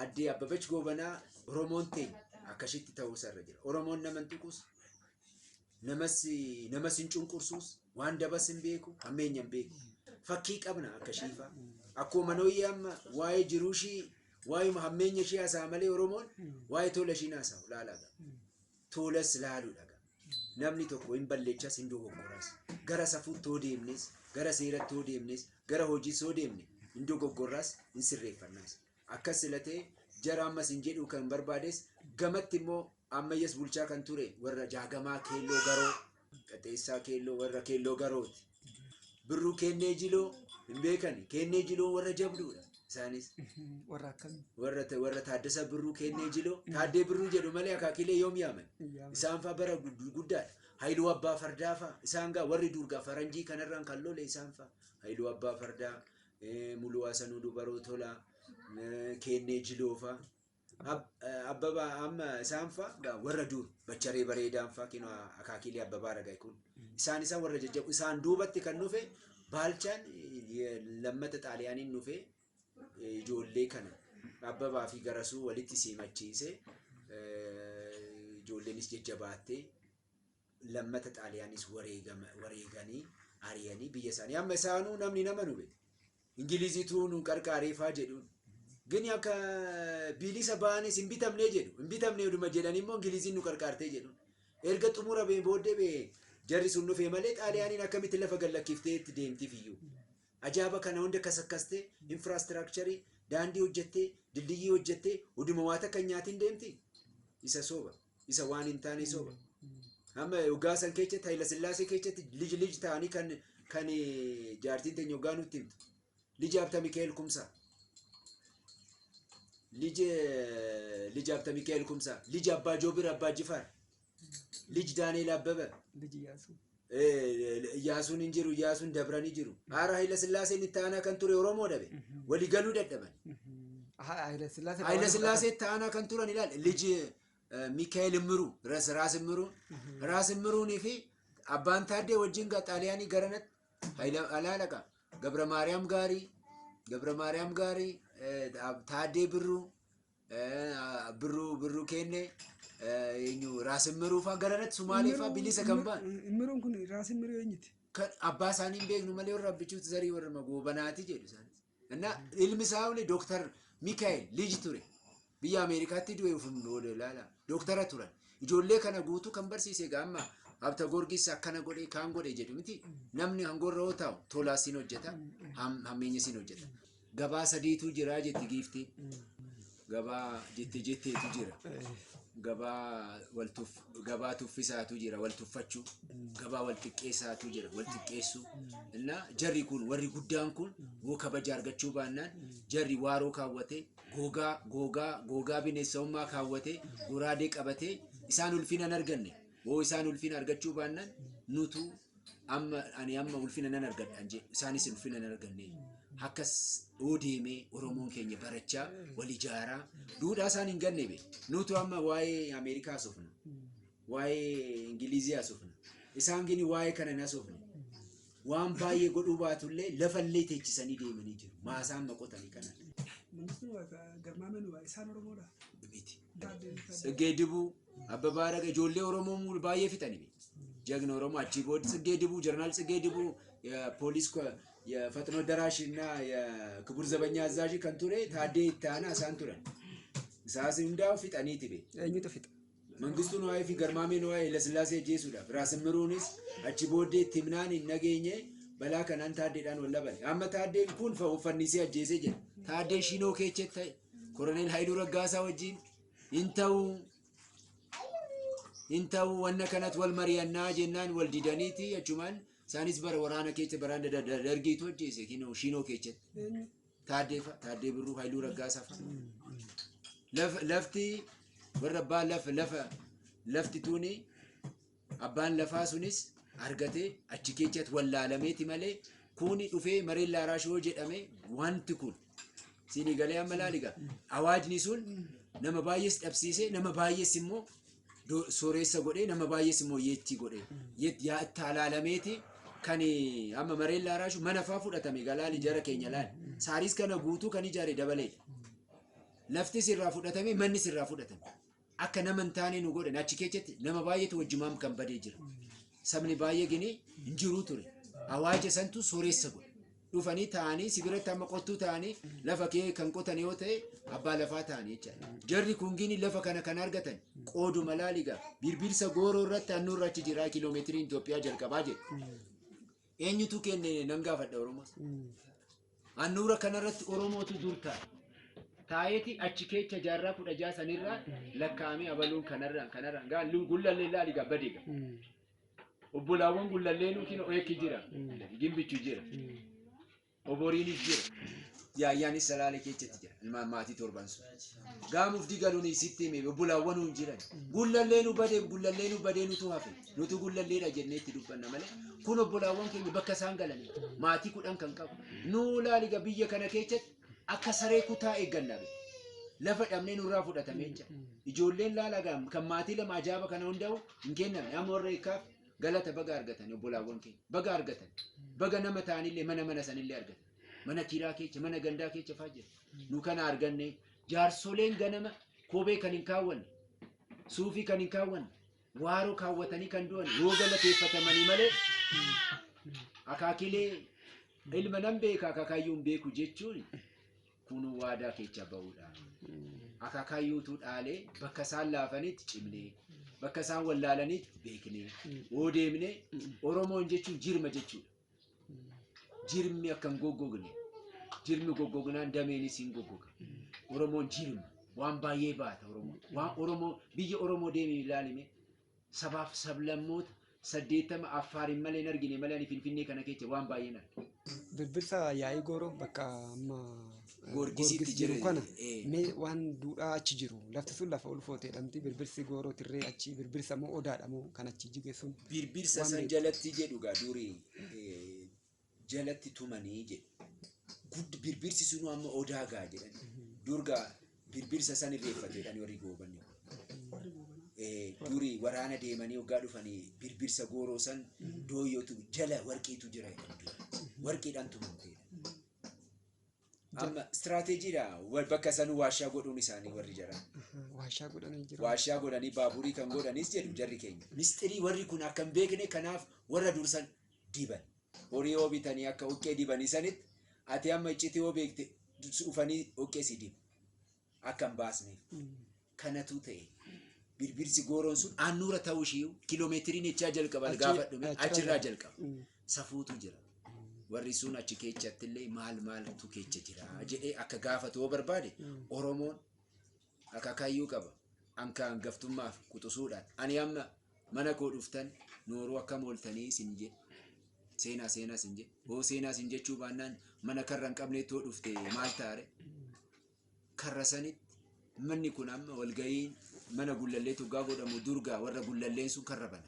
Addee Abbabach Goobanaa Oromoon teenya akkasitti ta'uusa irra jira. Oromoon nama hin tuqus, namas namas hin cunqursuus, waan dabas hin beeku, hammeenya hin beeku. Fakkii qabna akka shiifaa. Akkuma manooyyee amma waa'ee jiruu ishii, waa'ee hammeenya ishii haasa'aa malee Oromoon waa'ee tola ishii hin haasa'u laalaadha. Toolas laaluudha gaa. Namni tokko hin balleechas hin dogoggoras. Gara safuutti yoo deemnes, gara seeratti yoo deemnes, gara hojiis yoo deemne hin dogoggorras hin sirreeffannas. Akkas sila ta'e jara ammas hin jedhuu kan barbaades gamatti immoo ammayyas bulchaa kan ture warra jaagamaa keelloo garoo Qaxeessaa keelloo warra keelloo garooti. Birruu keennee jiloo hin beekani. Keennee jiloon warra jabduudha. Isaanis Warra akkamii? warra ta- warra Taaddasa Birruu keennee jiloo Taaddee Birruu jedhu malee akaakilee yoom yaaman. Isaan faa bara gud- guddaadha. Hayiluu Abbaa Fardaa faa isaan gaa warri durgaa faranjii kanarraan kan lole isaan faa. Hayiluu Abbaa Fardaa, eh, Muluu Hasanuu Dubaroo Tolaa, eh, Keennee Jiloo faa. Abbaba amma isaan faa gaa warra dur bacharee bareedaan faa kinoo akaakiilee abbabaa ragaa kun isaan isaan warra jajjabu isaan duubatti kan dhufe baalchaan lammata xaaliyaaniin dhufe ijoollee kana abbabaa fi garasuu walitti siimachiise ijoolleenis jajjabaattee lammata xaaliyaanis wareegama wareeganii ariyanii biyya isaanii amma isaanuu namni nama nu beeku ingiliziituu nu qarqaareefaa jedhuun gini akka biilisa ba'anis hin bitamnee jedhu hin bitamnee oduma jedhan immoo ingiliziin nu qarqaartee jedhuun erga xumura bee booddee bee jarri sun dhufee malee xaaliyaaniin akkamitti lafa gallakkiftee itti deemtiif iyyuu ajaaba kana hunda kasakkaste infraastiraakcharii daandii hojjettee dildiyyii hojjettee huduma waa takka hin nyaatiin deemti isa sooba isa waan hin taane soba. Amma hoggaa san keessatti Hayila Sillaasee keessatti lij lij ta'anii kan kan eh, jaartiin teenya hoggaa nutti himtu. Lij Habta Mikaa'el Kumsaa. Lij eh, lij Habta Mikaa'el Kumsaa. Lij Abbaa Joobir Abbaa Jifaar. Lij Daani'el Abbaba. ልጅ እያሱ Iyyaasuun hin jiru, Iyyaasuun dabranii jiru. Haara Hayila Sillaaseen itti aanaa kan ture Oromoo dhabe. Walii galuu dadhaban. Hayila Sillaasee. Hayila Sillaasee itti aanaa kan turan ilaal. Liji Mikaa'el Immiruu, Ras Raas Immiruu. Raas Immiruunii fi Abbaan Taaddee wajjin ga- Xaaliyaanii garanatti Hayila Alaalaqa. Gabra Maariyaam Gaarii, Gabra Maariyaam Gaarii, eh, Ab- Taaddee Birruu, Birruu birruu keenne eenyu raasimmiruu fa'aa gara irratti sumaalee fa'aa bilisa kan ba'an. Immiruun kun raasin miruu eenyuti? kan abbaa isaanii hin beeknu malee warra abbichuutti zarii warra magoobanaati jedhu isaanis. Innaa ilmi isaa illee dooktar Mikaa'el Liij ture. Biyya Ameerikaatti du'e ofuun booda ilaala. Dooktara turan. Ijoollee kana guutuu kan barsiise egaa amma Habta Goorgis akkana godhe kaan godhe jedhu miti. Namni hangoorra yoo taa'u tolaa siin hojjeta, ham- hammeenya siin hojjeta. Gabaa sadiitu jira jetti giiftiin. Gabaa jette jetteetu jira. Gabaa wal tuff- gabaa tuffisaatu jira wal tuffachuu. Gabaa wal xiqqeessaatu jira wal xiqqeessuu. Innaa jarri kun warri guddaan kun yoo kabaja argachuu baannaan jarri waaroo kaawwatee googaa googaa googaa bineensa'ummaa kaawwatee goraadee qabatee isaan ulfina hin arganne. Yoo isaan ulfina argachuu baannaan nutu Amma ani amma ulfina nan argadhaan jedhe isaanis ulfina hin arganne. Akkas yoo deemee Oromoon keenya barachaa wal ijaaraa duudhaa isaan hin ganne be. Nutu amma waa'ee Ameerikaa haasofna. Waa'ee Ingilizii haasofna. Isaan gini waa'ee kana hin haasofne. Waan baay'ee godhuu baatullee lafallee teechisanii deemanii jiru. Maasaa amma qotanii kana Mangistuu Garmaameen isaan Oromoodha. miti. Gaaddeebisaa. Tseggee Dibuu Abba Baaraga ijoollee Oromoo muul baay'ee fixani. Jagna Oromoo achii booda Tsiggee Dibuu, Jeneraal Tsiggee Dibuu, ya- poolis ko- ya- Faxinoo Daraash እና ክቡር ዘበኛ አዛዥ kan ture Taaddee Ittaanaa isaan turan. Isaas hundaa'u fixaniiti be. Eenyutu fixa? Mangistuu Nuwaayee fi Garmaamee Nuwaayee Lasillaasee ajjeesuudhaaf Raasimmiruunis achi booddee itti himnaan hin nageenye balaa kanaan taaddeedhaan wal dhabame. Amma taaddeen kun fa- uffannisee ajjeesee jira. Taaddee Shinoo Keecheet ta'e Koroneel Haayiluu Raggaasaa wajjin hin ta'u hin ta'u wanna kanat wal mariyannaa jennaan wal didaniiti achumaan isaanis bara waraana keessa baraan da- da- da- dargiitu ajjeese kinoo shiinoo keessatti Eenyu? taaddee fa- taaddee birruu hayluu raggaasaa fa Laf- lafti warra abbaa lafa lafa lafti tuuni Abbaan lafaa sunis argatee achi keessatti wallaalameeti malee kuuni dhufee mareen laaraash yoo jedhame wanti kun siinii galee amma laaliga awaajni sun nama baay'ees dhabsiisee nama baay'ees immoo do- sooreessa godhee nama baay'ees immoo yeettii godhee yeet- yaa itti alaalameeti kan amma mareen laaraashu mana faa fudhatame galaali jara keenya laali saariis kana guutuu kan ijaare dabaleedha laftis irraa fudhatame mannis irraa fudhatame akka nama hin taane nu godhan achi keessatti nama baay'eetu wajjumaan kan badee jira sabni baay'ee gini hin jiruu ture awaaja santu sooressa godhe dhufanii taa'anii si biratti amma qottuu taa'anii lafa kee kan qotan yoo ta'e abbaa lafaa taa'anii jechaadha jarri kun gini lafa kana kan argatan qooduma laaligaa birbirsa gooroo irratti annuurra achi jira kiiloomeetiriin Itoophiyaa jalqabaa jedhu Eenyutu kenne nan gaafadha Oromoos. Handhuura kanarratti Oromootu dur taa'e. Taa'eeti achi keecha jaarraa kudha ja'a sanirraa lakkaa'amee abaluun kanarraan kanarraan gaa lu- gullallee laali gaa bade gaa. Obbolaawwan gullallee nuukiin oekki jira. Gimbichu jira. Oboriinis jira. Yaayyaanis salaale keechatti jira. Ilmaan maatii torban sun. Gaamufti galuun isitti hime obbolaawwan nuun jiran. Gullallee nu badee gullallee nu badee nutu hafe. Nutu gullalleedha jennee itti dubbanna malee. Kun obbolaawwan keenya bakka isaan galanii maatii kudhan kan qabu. Nuu laaliga biyya kana keechatti akka saree kutaa eegganna. be. Lafa dhabnee nurraa fudhatamee jira. Ijoolleen laalagaa kan maatii lama ajaaba kana hundaa'u hin kennamne. Amma warra eekkaaf Galata baga argatan obbolaawwan keenya baga argatan baga nama ta'anillee mana mana sanillee argatan mana tiiraa keecha mana gandaa keecha faa jira nu kana arganne jaarsoleen ganama koobee kan hin kaawwanne suufii kan hin kaawwanne waaroo kaawwatanii kan du'an yoo galateeffatamanii malee akaakilee ilma nan beeka akaakayyuun beeku jechuun Kunuu waadaa keecha ba'uudha. Akaakayyuutu dhaalee bakka isaan laafanitti cimnee, bakka isaan wallaalanitti beeknee, yoo deemnee Oromoon jechuun jirma jechuudha. Jirmi akka hin goggogne, jirmi goggognaan dameenis hin goggoga. Oromoon jirma, waan baay'ee baata Oromoon. Waan Oromoo, biyya Oromoo deemee ilaalime sabaaf sablammoota 80 Affaariin malee hin argine malee ani Finfinnee kana kecha waan baay'een arge. Birbirsa yaa'ii gooroo bakka amma eh, Goorgisitti Goorgis jiru jiru, kana eh. mee waan duudhaa achi jiru lafti sun lafa ulfoo ta'edhamti birbirsi gooroo tirree achi birbirsa moo odaadha moo kan achi jige sun Birbirsa Waan san beektu. jalatti jedhu gaa durii eh, jalatti tumanii jedhe. Gud birbirsi sunuu amma odaa gaa jedhan. Durga birbirsa san irreeffate jedhan warri goobanni. Eh, Duri waraana deemanii hoggaa dhufanii birbirsa gooroo san dooyyootu jala warqiitu jira jedhan dura. Warqiidhaan tumamte jedhan. Amma istiraateejiidha. Wa- Bakka sanuu waashaa godhuun isaanii warri jara. Waashaa godhanii jiru. Waashaa godhanii baaburii kan godhanis jedhu jarri keenya. Mistirii warri kun akka hin beekne kanaaf warra dursan diban. Horii hoo bitanii akka hoqqee dibanii sanitti ati amma iccitii hoo beekte dhufanii hoqqee si dibu. Akka hin baasneef. Kanatu ta'e. Birbirsi gooroon sun aannuura ta'uu ishii kiiloomeetiriin echaa jalqaba Achi- gaafadhu mee? achirraa achirraa jalqaba. Mm. Safuutu jira. Warri sun achi keechatti illee maal maaltu keecha jira jedhee akka gaafatu yoo barbaade Oromoon Akaakayyuu qaba. An ka angaftummaaf quxusuudhaan. Ani amma mana koo dhuftan nooruu akkam ooltanii sin jedhe. Seenaa seenaa sin jedhe. Hoo seenaa sin jechuu baannaan mana karra hin qabneetti hoo dhufte maal taare? Karra sanitti manni kun amma walga'iin mana gullallee tuggaa godhamu durgaa warra gullalleen sun karra bana.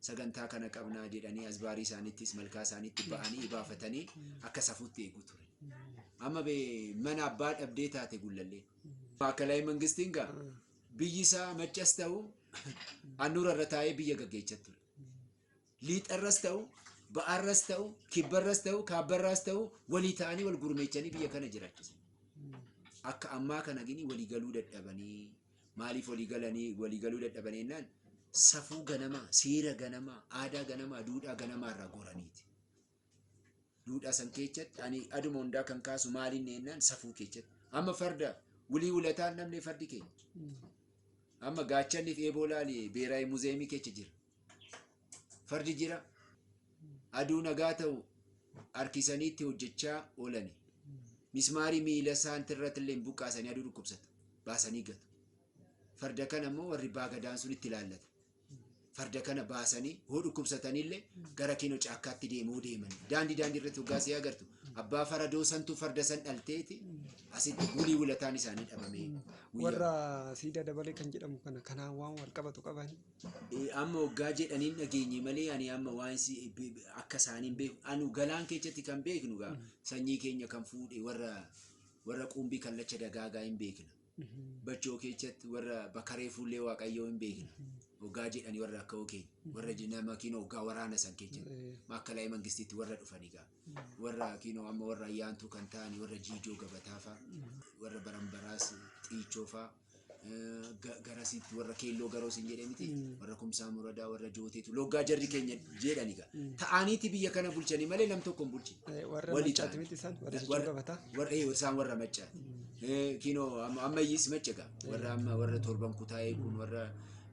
sagantaa kana qabnaa jedhanii asbaarii isaaniittis malkaa isaaniitti ba'anii ibaafatanii akka safuutti eegu ture. Amma bee mana abbaa dhabdee taate gullallee. Maakalaay mangistiin gaa biyyi isaa maccas ta'u annuura irra taa'ee biyya gaggeechaa ture. Liixarras ta'u ba'arras ta'u kibbarras ta'u kaabbarraas ta'u walii ta'anii wal gurmeechanii biyya kana jiraachisan. Akka ammaa kana gini walii galuu dadhabanii Maaliif walii galanii walii galuu dadhaban jennaan safuu ganamaa, seera ganamaa, aadaa ganamaa, duudhaa ganamaa irraa goraniiti. Duudhaa san keessatti ani aduma hundaa kan kaasu maaliin jennaan safuu keessatti. Amma farda wulii wulataan namni fardi keenya. Amma gaachanni fi eeboo laali beeraayi muzeemii keessa jira. fardi jira aduu nagaa ta'u harkisaniitti hojjechaa oolani mismaarii miila isaanitti irratti illee buqqaasanii aduu dhukkubsatu baasanii gatu farda kana immoo warri baagadaan sun itti ilaallata farda kana baasanii hoo dhukkubsatanii illee gara kiinoo caakkaatti deemuu deemani daandii daandii irratti hoggaa si agartu abbaa faradoo santu farda san dhalteeti asitti bulii wulataan isaanii dhabamee guyyaa warra siidaa dabalee kan jedhamu kana kanaan waan wal qabatu qabani Eh, amma waggaa jedhaniin dhageenye malee ani amma waan si be- be- akka isaaniin beeku anu galaan keessatti kan beeknu gaa sanyii keenya kan fuudhe warra warra quumbii kallacha dagaagaa hin beekna bachoo keessatti warra bakaree fuullee waaqayyoo hin beekna waggaa jedhanii warra akka okeenya warra nama kiinoo waggaa waraana san keessatti Eh, maakkalaa mangistiitti warra dhufanii gaa warra kiinoo amma warra ayyaantuu kan ta'ani warra jiijoo gabataa fa'a warra baranbaraas xiichoo fa'a garasiitti warra keelloo garoo sin jedhee miti warra kumsaa muradaa warra jooteetu loggaa jarri keenya jedhani ga ta'aniiti biyya kana bulchani malee nam tokko hin bulchine. Eh, Warra Wali maccaati ta'an. miti isaan warra jechuu gabataa. warra eh, isaan warra macca Eh, kinoo amma- ammayyiis macca ga warra amma warra torban kutaa'ee kun warra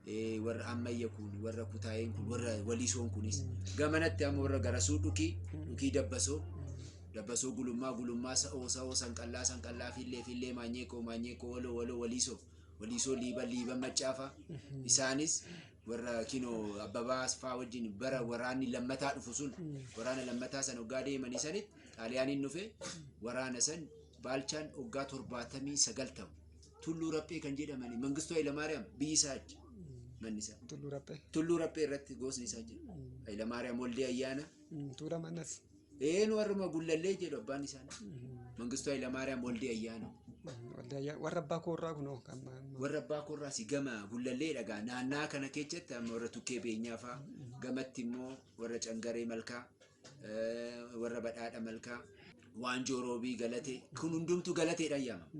eh, warra ammayya kun warra kutaa'een kun warra waliisoon kunis gamanatti amma warra garasuu dhukii dhukii dabbasoo Dabbasoo Gulummaa Gulummaa Sa'oo Sa'oo Sanqallaa Sanqallaa Fiillee Fiillee Maanyeekoo Maanyeekoo Waloo Waloo Waliisoo Waliisoo Liiban Liiban Maccaafaa isaanis warra kinoo Abbabaa Asfaa wajjin bara waraanni lammataa dhufu sun waraana lammataa san hoggaa deemanii sanitti xaaliyaaniin dhufe waraana san baalchaan hoggaa torbaatamii sagal ta'u tulluu raphee kan jedhamani mangistuu Hayilamaariyaam biyyi isaa achi manni isaa Tulluu Raphee. tulluu raphee irratti goosni isaa jira Hayilamaariyaam Waldee Ayyaana Tuula manas. Eenu warruma gullallee jedhu abbaan isaanii. Mangistuu Hayilamaariyaam Waldii Ayyaana. Waldayyaa- Warra abbaa koorraa kunoo kan ma- ma- Warra abbaa koorraas gama gullallee dhagaa naannaa kana keessatti amma warra tukkee beenyaa faa gamatti immoo warra cangaree malkaa eh, warra badhaadha malkaa waanjoo roobii galatee kun hundumtuu galateedhaan yaamama.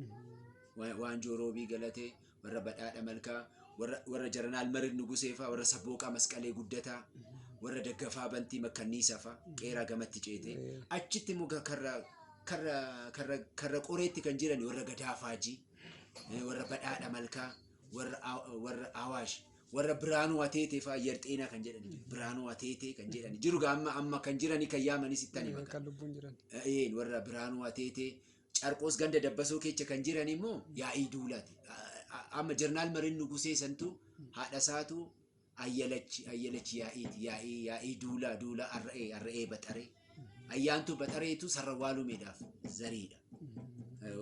Wa- Waanjoo roobii galatee warra badhaadha malkaa warra warra jaranaal marid nuguseefaa warra sabbooqaa masqalee guddataa warra daggafaa bantii makkanniisafaa qeeraa gamatti ceetee achitti immoo ga- karra karra karra karra qoreetti kan jiran warra gadaa faajii eh, warra badhaadha malkaa warra Aw- warra awaash warra biraanuu ateetee faa ayyar xeenaa kan jedhan jiru. biraanuu ateetee kan jedhan jiru gaa amma amma kan jiranii kan yaamanis ittani maqaa kan lubbuun jiran. Een warra biraanuu ateetee Carqoos ganda dabbasoo keecha kan jiran immoo yaa'ii duulaati. Amma jarnaal mariin nugusee santu haadha isaatu ayyalachi ayyalachi yaa'iiti yaa'ii yaa'ii duulaa duulaa arra'ee arra'ee baxaree ayyaantuu baxareetu sarra waalumeedhaaf zariidha.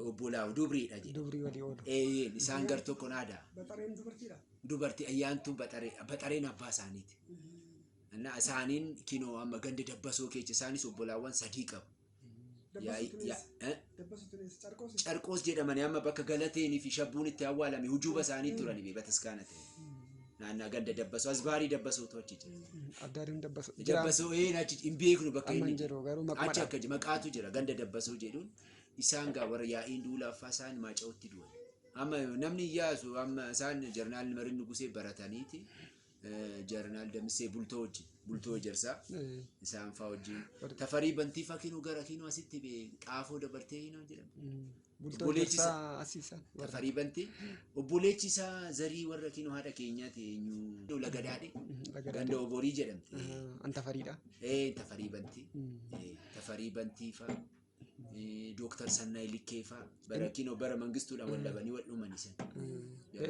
Obbolaa dubriidha jedha. Dubrii walii oolu. Eeyyeen isaan gar tokko naada. Baxareen dubartiidha. Dubartii ayyaantuu baxaree baxareen abbaa isaaniiti. Innaa isaaniin kinoo amma ganda dabbasoo keecha isaanis obbolaawwan sadii qabu. Yaa'ii- Dabbasuu yaa- eh? Dabbasuu tunis carqoos. carqoos jedhamani amma bakka galateenii fi shabbuun itti awwaalame hujuuba isaanii turani bee bataskaana ta'e naannaa ganda dabbasoo asbaarii dabbasootu achi jira Adda adeemu dabbasu. dabbasoo een achi hin beeknu bakka Amma hin inni jiru garuu maquma achi akka maqaatu jira ganda dabbasoo jedhuun isaan gaa warra yaa'iin duulaaffaa isaan maaca'utti du'an amma namni iyyaasu amma isaan jarnaal marin nugusee barataniiti eh, jarnaal damissee bultoo wajjin bultoo jarsaa Eh, isaan faa wajjin Barga. tafarii bantii faa kinuu gara kinuu asitti bee xaafoo dabartee hinoo jedhamu mm, Bultoo Obboleechi isaa- jarsaa asiisan. warra. tafarii bantii obboleechi isaa zarii warra kinuu haadha keenyaati eenyu lagadaadhe Mm, laga ganda daadhii. oborii jedhamti Ah, An tafariidha. eh tafarii bantii Mm. eh tafarii bantii faa Eh, Dooktar Sannaay Likkee faa bara kinoo bara mangistuudhaan wal dhabanii wal dhuman isan.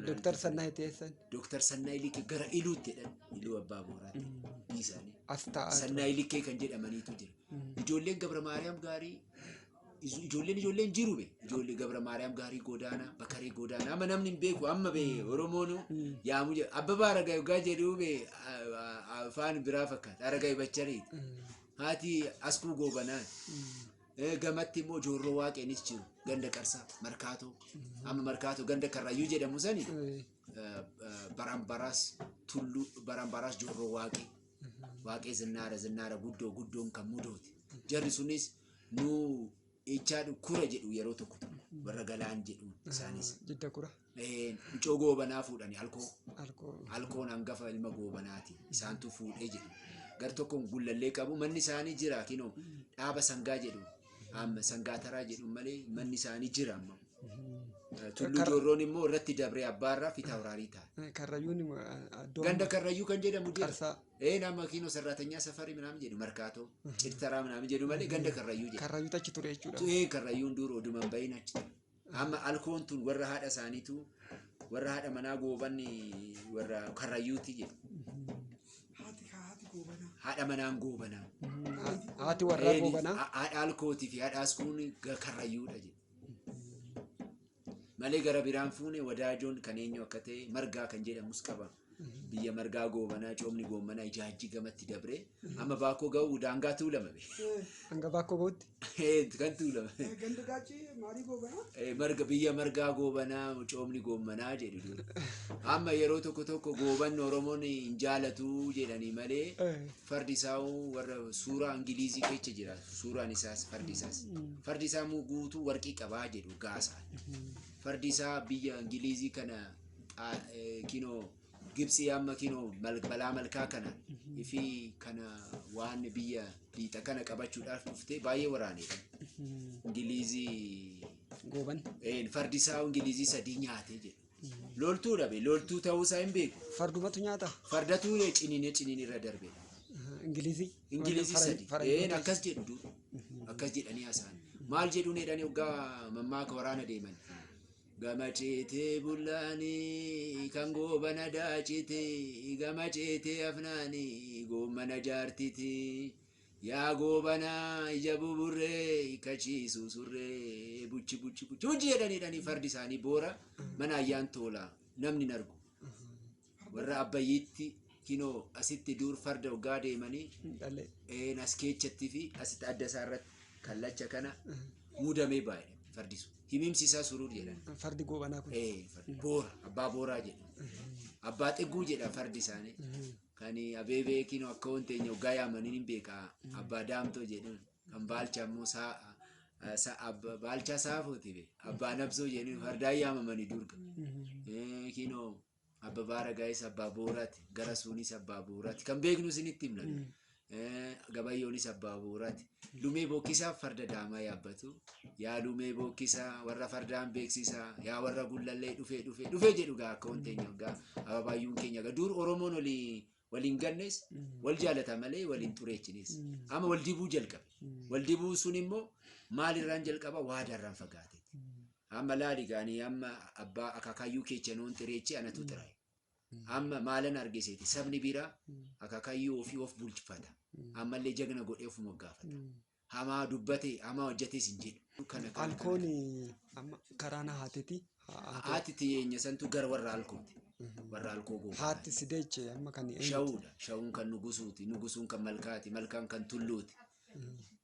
Dooktar Sannaay teessan Dooktar Sannaay Likkee gara Iluutti jedhan Iluu Abbaa Booraatti hidhii isaanii. as taa'aa ture. Sannaay Likkee kan jedhamaniitu jira. Ijoolleen Gabra Maariyaam gaarii ijo- ijoolleen ijoolleen jiru be ijoollee Gabra Maariyaam gaarii goodaanaa bakaree goodaanaa amma namni hin beeku amma be Oromoonu yaamu jedha Abbabaa Aragaa Yogaa jedhuu be a- a- afaan biraa fakkaata Aragaa Ibachariiti. Haati Askuu Goobanaa eh, gamatti immoo Joorroo Waaqeenis jiru ganda Qarsaa Markaatoo amma Markaatoo ganda Karrayyuu jedhamu sani eh, eh, Baraambaraas Tulluu Baraambaraas Joorroo Waaqee Waaqee Zinnaara Zinnaara Guddoo Guddoon kan mudooti jarri sunis nu Ichaa dhukkura jedhu yeroo tokko tokko warra galaan jedhu isaanis. Jidda kura. Eh, Mucoo goobanaa fuudhani alkoo. Alkoo. Alkoon hangafa ilma goobanaati. Isaantu fuudhee jedhu. Gar tokkoon gullallee qabu manni isaanii jira kinoo dhaaba sangaa jedhu. Amma sangaa taraa jedhu malee manni isaanii jira amma. Eh, Tulluu Kar- Joorroon immoo irratti dabree abbaarraa fitaa horaarii ta'a. Karrayyuun iddoo Ganda Karrayyuu kan jedhamu jira. qarsaa. Ee naa makiino sarraatanyaa safarii minaamin jedhu markaatoo cirtaraa minaamin jedhu malee ganda karrayyuu jedhu. Karrayyuutu achi ture jechuudha. Ee karrayyuun dur oduman bahin achi ture. Amma alkoon tun warra haadha isaaniitu warra haadha manaa gooban warra karrayyuuti jedhu. Haati haa haati goobanaa. Haadha manaan goobanaa. Haati warraa Eeni, goobanaa. ha- haadha alkootii fi haadha askuun ga- karrayyuudha jedhu. malee gara biraan fuune wadaajoon kan eenyu akka ta'e margaa kan jedhamus qaba. Biyya margaa goobanaa coomni goomanaa ijaajji gamatti dabree amma baakoo ga'u daangaa tuulamame. Hanga baakoo ga'utti. kan tuulamame. Ganda gaachii maalii goobanaa? Eh, marga biyya margaa goobanaa coomni goomanaa jedhu dur. amma yeroo tokko tokko goobanni oromoon hin jaalatu jedhanii malee Fardi isaa warra suuraa Ingiliizii keessa jira. Suuraan isaas fardi isaas. Fardi isaa immoo guutuu warqii qabaa jedhu gaasa. Fardi isaa biyya Ingiliizii kana xaa- eh, kinoo Gibsii amma kinoo mal- balaa malkaa kana fi kana waan biyya liixa kana qabachuudhaaf dhuftee baay'ee waraanedha. Ingiliizii Gooban. eh, fardi isaa Ingiliizii sadii nyaatee jedhu. Loltuu dhabe. Loltuu ta'uu isaa hin beeku. Fardumatu nyaata. Fardatu ciniinee ciniin irra darbe. Ingilizii. Ingilizii Faran- sadi. Faranjoota. Een akkas jedhu du. Akkas jedhanii haasa'an. Maal jedhuun jedhanii hoggaa mammaaka waraana deeman. Gama ceetee bullaanii kan goobana daacite gama ceetee afnaanii goommana jaartiti. Yaa goobana ija buburree hiikkachiisu surree buchi buchi buchi buchi jedhanii jedhanii fardi isaanii boora mana ayyaan toola namni hin argu. Warra abbayyiitti kinoo asitti duur farda hoggaa deemanii Hin dhalee. een as keechatti fi asitti adda isaa irratti kallacha kana muudamee baay'e fardi sun. Himimsi isaa suruu jedhan. Fardi goobanaa kun. Ee, fardi boora abbaa booraa jedhan. Abbaa xigguu jedhan fardi isaanii. Kan abeebee kinoo akka waan teenya hoggaa yaamaniin hin beeka abbaa daamtoo jedhan kan baalchaa immoo saa eh, sa- abba- baalchaa saafooti be abbaa nabsoo jedhan fardaa yaamamanii durga Eh, kinoo abba baaragaayis abbaa booraati gara suunis abbaa booraati kan beeknu isinitti himna Gabayyoonis abbaa bu'uuraati. Lumee bookkisaa farda daamaa yaabbatu. Yaa lumee bookkisaa warra fardaan beeksisaa yaa warra gullallee dhufee dhufee dhufee jedhu gaa akka wanteenya gaa ababaayyuun keenya gaa dur Oromoon olii waliin gannes wal jaalata malee waliin xureechines. Amma wal dibuu jalqabe. Wal dibuu sun immoo maalirraan jalqaba waadaarraan fagaate. Amma laali gaanii amma abbaa akaakayyuu keechanoon xireechee anatu xiraa'e. Amma maalan argiseeti sabni bira akakayyuu ofii of bulchifata. Ammallee jagna godhee of moggaafata. Hamaa dubbate hamaa hojjetes hin jedhu. Kana kana kana. Alkoon amma karaa na haatiti. Haati tiyeenya santu gara warra alkooti. Warra alkoo goofaati. Haatti si deeche amma kan eenyuti? Shawuudha. Shawuun kan nugusuuti. Nugusuun kan malkaati. Malkaan kan tulluuti.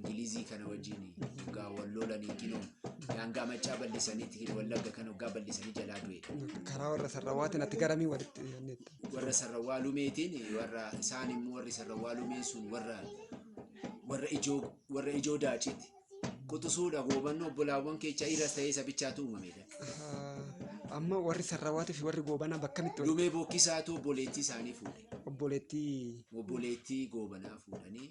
Ingilizii kana wajjin hoggaa wal loolanii kinoo daangaa maccaa bal'isaniiti hin wallagga kan hoggaa bal'isanii jalaa du'e. Karaa warra sarrawaatiin ati garamii walitti dhiyaanneetta. Warra sarrawaa lumeetiin warra isaan immoo warri sarrawaa lumeen sun warra warra ijoo warra ijoo daaciiti. Quxusuudha goobanni obbolaawwan keecha dhiiras ta'ee sabichaatu uumamedha. Amma warri sarrawaatii fi warri goobanaa bakka mitti walitti Lumee bokkisaatu obboleettii isaanii fuudhe. obboleettii Obboleettii goobanaa fuudhanii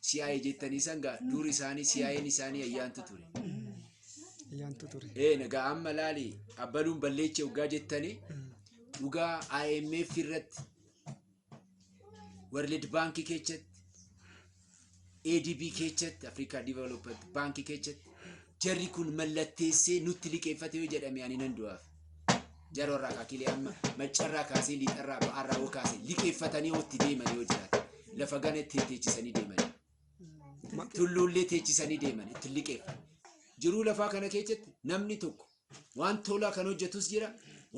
CIA jettanii san gaa dur isaanii CIA'n isaanii ayyaantu ture. Ayyaantu ture. Ee nagaa amma laali abbaluun balleecha waggaa jettanii dhugaa IMF irratti World Bank keessatti ADB keessatti Africa Development Bank keessatti jarri kun mallatteessee nutti liqeeffate yoo jedhame ani nan du'aaf. Jaroo irraa kaakilee amma maccarraa kaasee liixarraa ba'aarraa yoo kaasee liqeeffatanii yoo itti deeman yoo jiraate lafa gana itti teechisanii deemanii. tulluullee teechisanii deeman itti liqeeffan. Jiruu lafaa kana keessatti namni tokko waan tolaa kan hojjetus jira,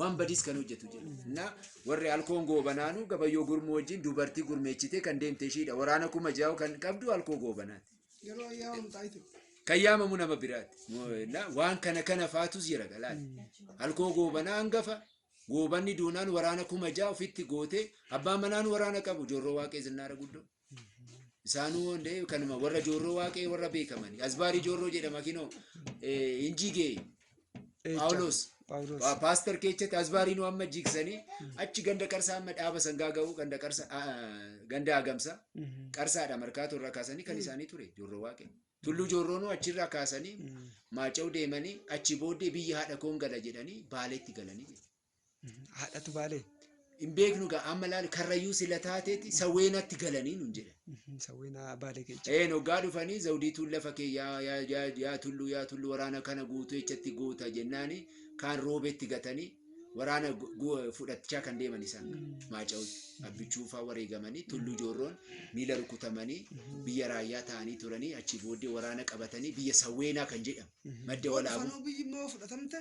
waan badiis kan hojjetu jira. Na warri alkoon goobanaanu gabayyoo gurmuu wajjin dubartii gurmeechitee kan deemte ishiidha. Waraana kuma jaa'u kan qabdu alkoo goobanaati. Yeroo ayyaa hundaa itti. kan yaamamu nama biraati. Na- Waan kana kana faatus jira galaati. Halkoo goobanaa hangafa goobanni duunaan waraana kuma ja'a ofitti gootee abbaan manaan waraana qabu joorroo waaqee zinnaara guddoo. Isaanuu hundee kanuma warra joorroo waaqee warra beekamani. Asbaarii joorroo jedhama kinoo eh, hin jigee Phaawulos. Phaawulos. Pa- Paaster keechatti asbaariinuu amma jigsanii achi ganda qarsaa amma dhaaba sangaa ga'uu ganda qarsa ganda hagamsa Mhm. qarsaadha markaatu irraa kaasanii kan isaanii ture joorroo waaqee. Tulluu joorroonuu achirraa kaasanii Mhm. maaca'u deemanii achi booddee biyya haadha koon gala jedhanii baaleetti galanii. Haadhatu baalee. Hin beeknu gaa amma laal karrayyuu sila taateeti sawweenatti galanii nun jedhe. Sawween baalee keessa. Een hoggaa dhufanii zawdiituun lafa kee yaa yaa yaa yaa tulluu yaa tulluu waraana kana guutuu echatti goota jennaani kaan roobetti gatanii waraana gu- gu- fudhachaa kan deeman isaan maaca'utti abbichuufaa wareegamanii tulluu joorroon miila rukutamanii biyya raayyaa ta'anii turanii achi booddee waraana qabatanii biyya sawweenaa kan jedhamu madda walaabuu Fafanuu biyyi immoo fudhatamte.